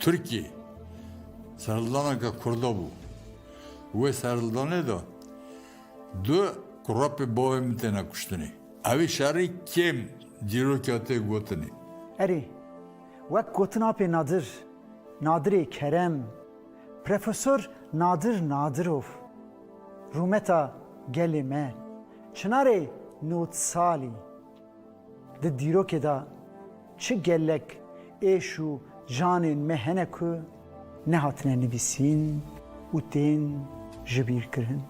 Tirkî serhildaneke kurda bû. Wê serhildanê de du kurapê bavê min têne kuştinê. Evî şerî kêm dîroka tê gotinê. Erê, wek gotin apê Nadir, Nadirê Kerem, Profesor Nadir Nadirov, rûmeta gelê me, çinarê nod salî. Di dîrokê de çi gelek êş û canên me hene ku nehatine nivîsîn û tên jibîrkirin.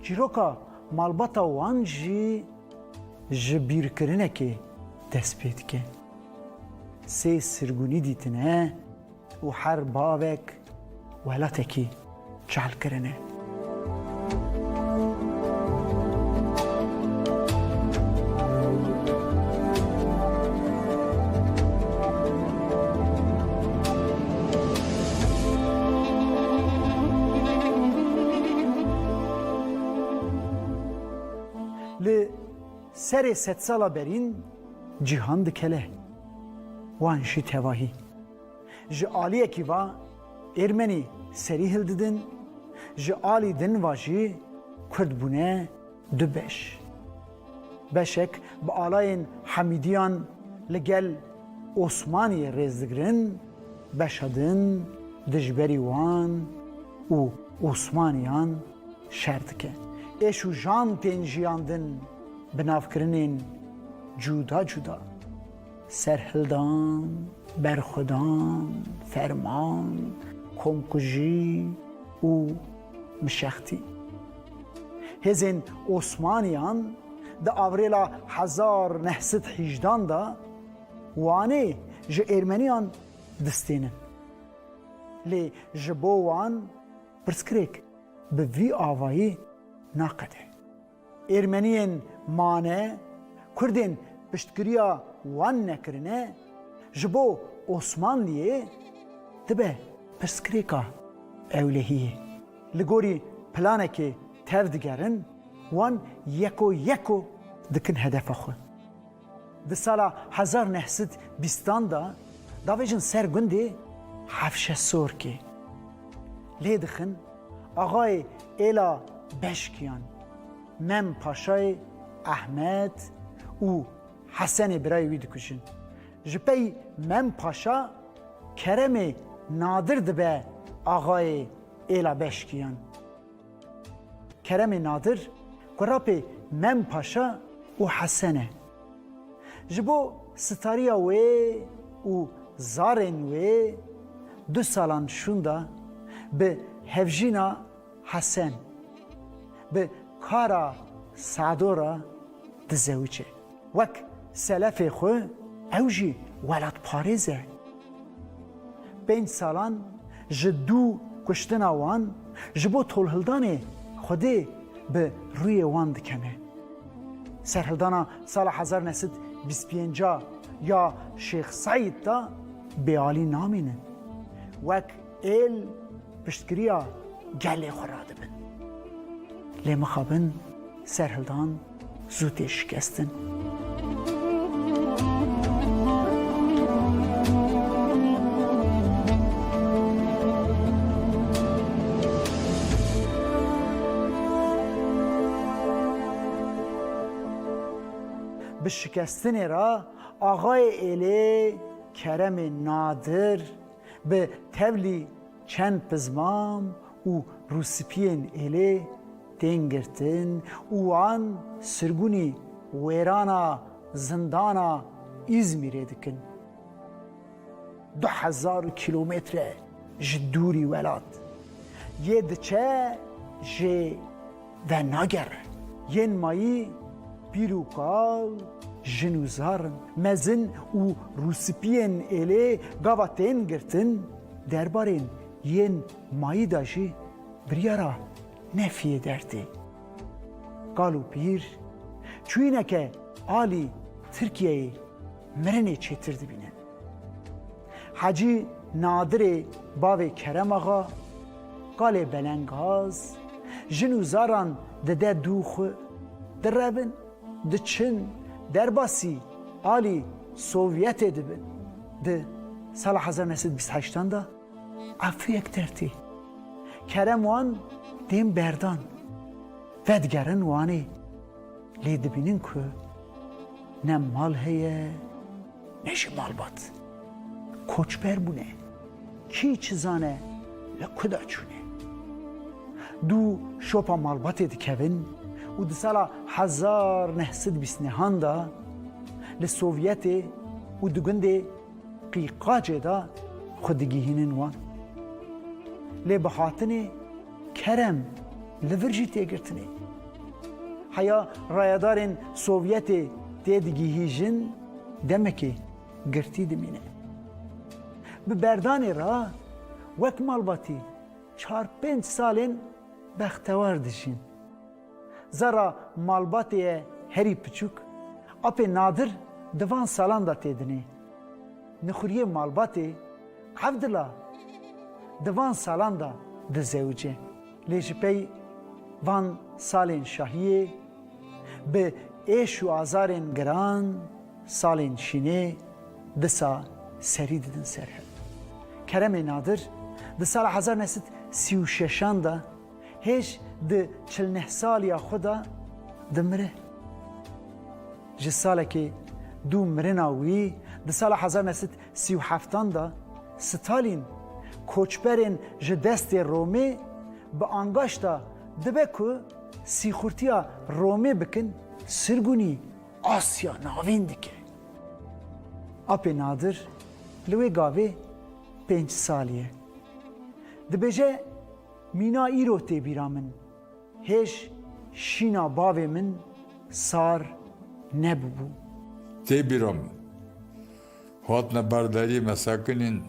Çîroka malbata wan jî ji bîrkirinekê dest pê dike. Sê sirgûnî dîtine. û her bavek welatekî çal kirine. Li serê sedsala berîn cîhan dikele. Wan jî tevahî ji aliyekî va Êrmenî serî hildidin, ji alî din va jî Kurd bûne du beş. Beşek bi alayên Hemîdiyan li gel Osmaniyê rêz digirin, beşa din dijberî wan û Osmaniyan, Şer dike. Êş û jan tên jiyandin bi navkirinên cuda cuda, serhildan, berxwedan, ferman, komkujî û mişextî. Hêzên Osmaniyan di avrêla hezar neh sed hîjdan de Wanê ji Êrmeniyan distênin. Lê ji bo wan pirsgirêk. Bi vî avayî naqede. Êrmeniyên mane, Kurdên piştgiriya wan nekirine, ji bo Osmanliyê dibe pirsgirêka ewlehiyê. Li gorî planekê tev digerin, wan yeko yeko dikin hedefa xwe. Di sala hezar neh sed bîstan de davêjin ser gundê Hefşesorkê. Lê dixin axayê êla Beşkiyan, Mem Paşayê Ehmed û Hesenê birayê wî dikujin. Ji pey Mem Paşa Keremê Nadir dibe axayê êla Beşkiyan. Keremê Nadir, kurapê Mem Paşa û Hesen e. Ji bo stariya wê û zarên wê du salan şûnda bi hevjîna Hesen, bi Kara Sado re dizewicê. Wek selefê xwe ew jî welatparêz e. Pênc salan ji dû kuştina wan ji bo tolhildanê Xwedê bi rûyê wan dikene. Serhildana sala hezar ne sed bîst pênca ya Şêx Seîd de bêalî namînin. Wek êl piştgiriya gelê xwe radibin. Lê mixabin serhildan. Zû tê şikestin. Bi şikestinê re axayê êlê Keremê Nadir bi tevlî Çend pizmam û rûspiyên êlê tên girtin û wan sirgûnî wêrana zindana Îzmîrê dikin. Du hezar kîlometre ji dûrî welat yê diçe jê. ve nagere. Yên mayî pîr û kal, jin û zar in. Mezin û rûspiyên êlê gava tên girtin, derbarên yên mayî de jî biryara nefiyê dertê. Kal û pîr çûyîneke alî Tirkiyeyê mirinê çêtir dibînin. Hacî Nadirê bavê Kerem Axa, Qalê Belengaz, jin û zaran dide dû xwe, direbin, diçin, derbasî alî Sovyetê dibin. Di sala hezar û neh sed û bîst û heşt an de efûyek dertî. Kerem wan dêm berdan. Vedigerin Wanê. Lê dibînin ku ne mal heye, Ne jî malbat koçber bûne, kî çi zane li ku de çûne. Du şopa malbatê dikevin û di sala hezar neh sed bîst nehan de li Sovyetê û di gundê Qîqacê de xwe digihînin wan. Lê bi hatinê kerem li vir jî tê girtinê. Heya rayedarên Sovyetê tê digihîjin, Demekê girtî dimîne. Bi berdanê re wek malbatî çar pênc salên bextewar dijîn. Zerra malbatê ye herî piçûk, apê nadir di van salan de tê dinê. Nixuriyê malbatê Evdila di van salan de dizewicê. Lê ji pey van salên şahiyê, bi êş û azarên giran, salên şînê disa serî didin ser hev. Keremê Nadir di sala hezar neh sed sî û şeşan de hêj di çil neh saliya xwe de dimire. Ji salekê dû mirina wî di sala hezar neh sed Sî û heftan de Stalîn koçberên ji destê Romê bi angaş da dibe ku sîxurtiya Romê bikin sirgûnî Asya Navîn dike. Apê Nadir li wê gavê pênc sal ye. Dibêje mîna îro tê bîra min, hêj şîna bavê min sar nebûbû. Tê bîra min Hatine ber deriyê me sekinîn,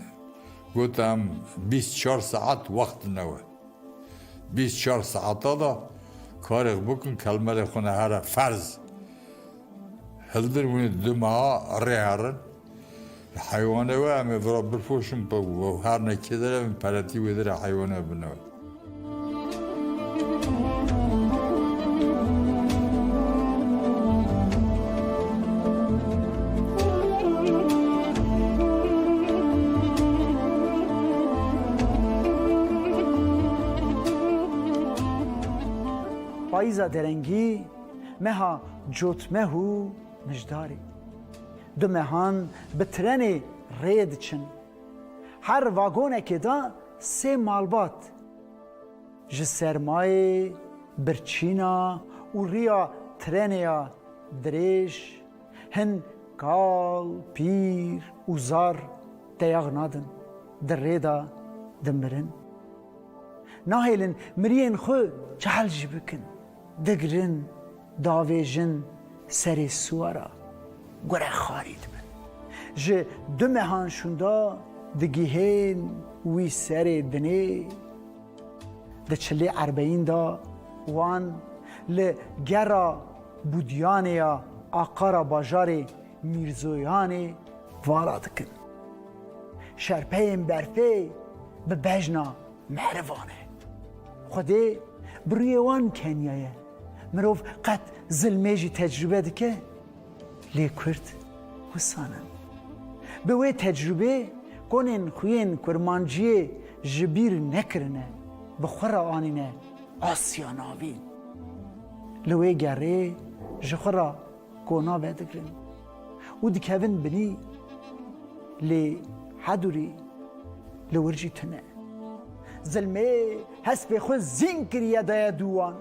gote em bîst çar saet wext dine we. Bîst çar saeta de karêx bikin kelmerê xwe ne here ferz hildir winê du meha rê herin. Heywanê we em ê vira bipoşin, her ne kê de re em ê peretî wê de re heywanê we bine we. Payîza derengî meha cotmeh û mijdarê. Du mehan bi trenê rê diçin. Her vagonekê de sê malbat ji sermayê, birçîna û riya trenê ya dirêj hin kal, pîr û zar teyax nadin, di rê de dimirin. Nahêlin miriyên xwe cehel jî bikin. Digirin, davêjin serê siwara, gure xarî dibin. Ji du mehan şûnda digihên wî serê dinê. Di çilê erbeyîn da wan li gera Budyanê ya Aqara bajarê Mîrzoyanê vala dikin. Şerpeyên berfê bi bejna. Mehrivan e. Xwedê bi rûyê wan keniya ye. Mirov qet zilmê jî tecrûbe dike, lê Kurd wisan in. Bi wê tecrûbê konên xwiyên kurmanciyê ji bîr nekirine, bi xwe re anîne Asya Navîn. Li wê gerê ji xwe re Kona vedigirin û dikevin binî lê hedurî li wir jî tune. Zilmê hespê xwe zîn kiriye daye dû wan.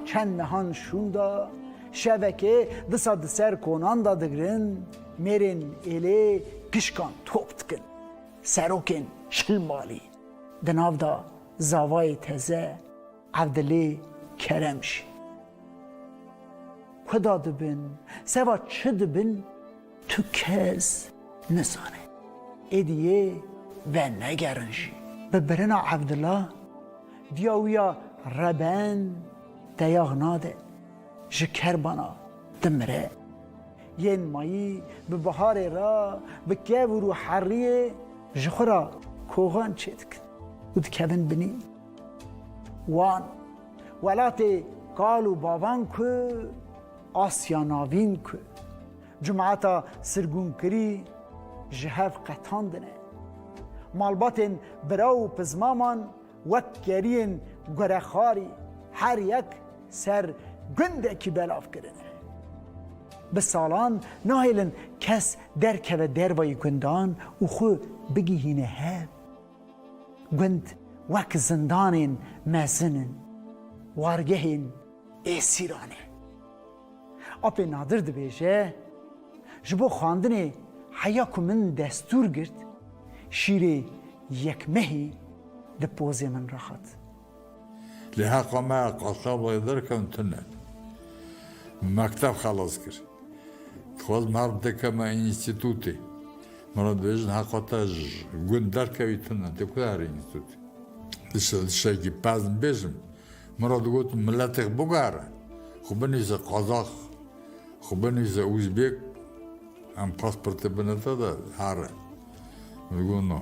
Çend mehan şûnda şevekê disa di ser konan de digirin, mêrên êlê pişkan top dikin. Serokên şil malî di nav de zavayê teze. Evdilê Kerem jî. Kuda dibin, seva çi dibin tu kes nizane. Êdî yê venegerin jî. Bi birina Evdila diya wî ya reben deyax nade, ji kerbana dimire. Yên mayî bi biharê re bi kevûr û heriyê ji xwe re koxan çêdikin û dikevin binî. Wan, welatê kal û bavan ku Asya Navîn ku cumata sirgûnkirî ji hev qetandine. Malbatên bira û pizmaman wek keriyên gurexarî her yek ser gundekî belav kirine. Bi salan nahêlin kes derkeve dervayî gundan û xwe bigihîne hev. Gund wek zindanên mezin in, wargehên êsîran e. Apê Nadir dibêje, Ji bo xwendinê heya ku min destûr girt, şîrê yek mehî di pozê min re hat. Lê heqa me ya qasabayê derkevin tune. Min mekteb xelas kir. Dixwazim her bi te keme înîstîtûtê. Min re dibêjin heqa te ji gund derkevî tune, tu ku herî înîstîtûtê. Di şevekî pez nibêjim. Min re digotin miletêk bigere, xwe binivîse Qazax, xwe binivîse Uzbêk, em pasportê bine te de here. Min digot no.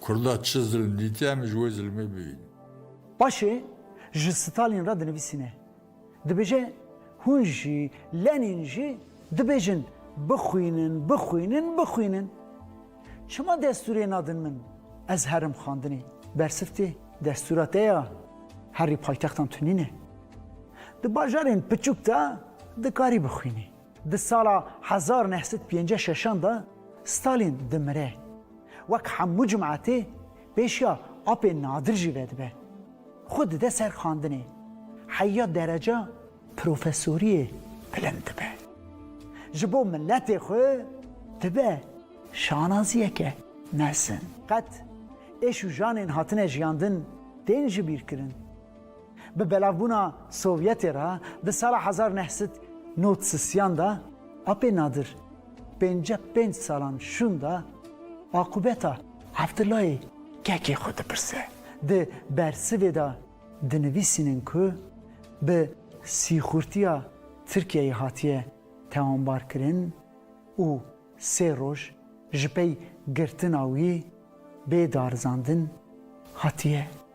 Kurda çi zilm dîtiye em ji wê zilmê bibînin. Paşê ji Stalin re dinivîsîne. Dibêje hûn jî, Lenin jî dibêjin bixwînin, bixwînin, bixwînin. Çima destûrê nadin min? Ez herim xwandinê. Bersiftê destûra te ya herî paytextan tunîne. Di bajarên piçûk de dikarî bixwînî. Di sala hezar neh sed pênceh şeşan de Stalin dimire. Wek hemû cemaetê pêşiya apên nadir jî vedibe. Xwe dide ser xandinê. Heya dereca profesoriyê bilind dibe. Ji bo miletê xwe dibe şanaziyeke mezin. Qet êş û janên hatine jiyandin tên jibîrkirin. Bi belavbûna Sovyetê re di sala hezar neh sed nod sisiyan de apê nadir pênce pênc salan şûn de aqûbeta Evdilayê kekê xwe dipirse. Di bersivê de dinivîsînin ku bi sîxurtiya Tirkiyeyê hatiye tewanbarkirin û sê roj ji pey girtina wî bê darizandin hatiye.